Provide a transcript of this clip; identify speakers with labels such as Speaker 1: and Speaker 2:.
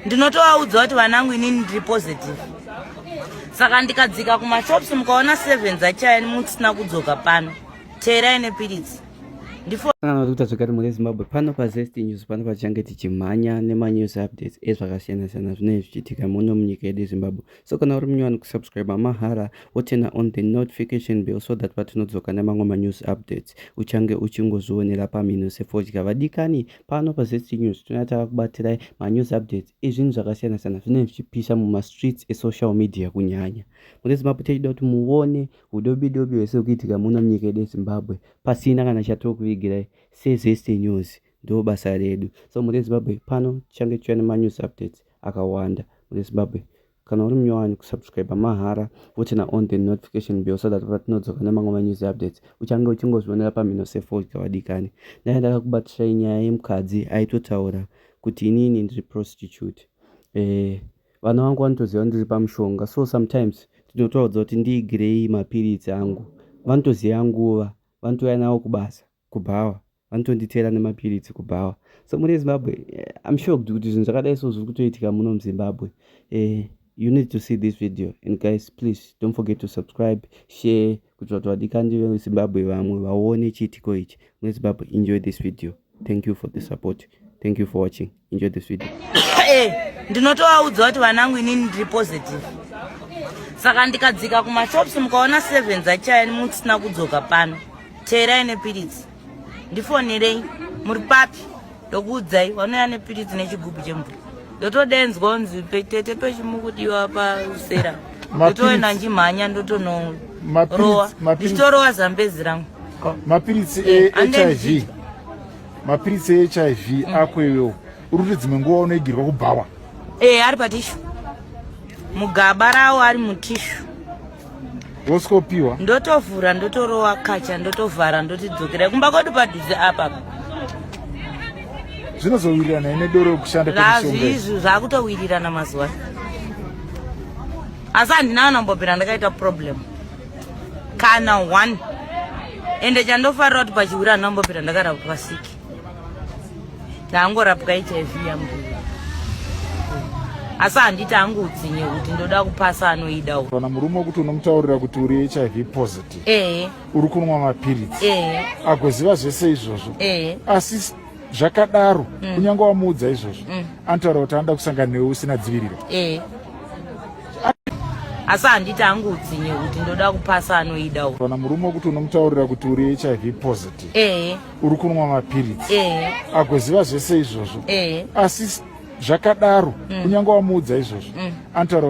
Speaker 1: ndinotovaudza kuti vanangu inini ndiri positive saka ndikadzika kumashops mukaona seven dzachaya musina kudzoka pano teerai nepiritsi ndifanakuita
Speaker 2: zvekati mhuri yezimbabwe pano pazest news pano patichange tichimhanya nemanews updates ezvakasiyana-siyana zvinenge zvichiitika muno munyika yedu yezimbabwe so kana uri munyowani kusubscribe mahara wotena on the notification bill so that patinodzoka nemamwe manews updates uchange uchingozvionera pamhino sefodya vadikani pano pazst news tinouya tava kubatirai manews updates ezvinhu zvakasiyana siyana zvinenge zvichipisa mumastreets esocial media kunyanya mune zimbabwe tichida kuti muone udobi dobi hwese ukuitika muno munyika yedu yezimbabwe pasina kana chatiri kuvigirai sezst news ndo basa redu so mune zimbabwe pano tichange tichiuya nemanews updates akawanda mune zimbabwe kana uri munyowani kusubscriber mahara wotina on the notification bell so that patinodzoka nemamwe manews updates uchange uchingozvionera pamhino sefodya vadikani ndanga ndakakubatirai nyaya yemukadzi aitotaura kuti inini ndiri prostitute eh, vana vangu vanotoziva ndiri pamushonga so sometimes tinotoudza kuti ndiigirei mapiritsi angu vanotoziva nguva vanotouya navo kubasa kubhawa vanotonditeera nemapiritsi kubhawa so muri ezimbabwe eh, im shocked kuti zvinhu zvakadai so zviri kutoitika muno muzimbabwe eh, you need to see this video and guys please don't forget to subscribe share kuti vatu vadikandi vezimbabwe vamwe vaone chiitiko ichi muri ezimbabwe enjoy this video thank you for the support thank you for watching enjoy this video eh
Speaker 1: ndinotovaudza kuti vanangu inini ndiri positive saka ndikadzika kumashops mukaona seven dzachaya nemusina kudzoka pano teerai nepiritsi ndifonerei muri papi ndokuudzai wanouya nepiritsi nechigubhu chemvura ndotodenzwa unzi tete pechimukudiwa pausera ndotoenda ndimhanya ndotonorowa ndichitorowa zambezi rangu mapiritsi
Speaker 3: ehiv eh, mapiritsi ehiv mm. ako iwewo uri kuti dzimwe nguva unoigirwa kubhawa ee eh, ari patishu
Speaker 1: mugaba rawo ari mutishu
Speaker 3: woskopiwa ndotovhura
Speaker 1: ndotorova kacha ndotovhara ndotidzokera kumba kwedu padhuze apapa
Speaker 3: zvinozowirirana ine doro yokushanda kwazvizvi zvakutowirirana
Speaker 1: mazuva asi handina kana mbobhera ndakaita problem kana one ende chandofarira kuti pachiwira anambopera ndakarapwa siki ndaangorapwa hiv yambuya asi handiti angoutsinye kuti ndoda kupasa anoida kana murume wekuti
Speaker 3: unomutaurira kuti uri hiv positive ee uri kunwa mapiritsi ee agoziva zvese izvozvo ee asi zvakadaro mm. kunyange wamuudza izvozvo mm. anotaura kuti anoda kusangana newe usina dziviriro ee
Speaker 1: asi handiti angu utsinye kuti ndoda kupasa anoida kana murume wekuti
Speaker 3: unomutaurira kuti uri hiv positive eh. uri kunwa mapiritsi eh. agoziva zvese izvozvo eh. asi zvakadaro mm. kunyange wamuudza izvozvo mm. antaura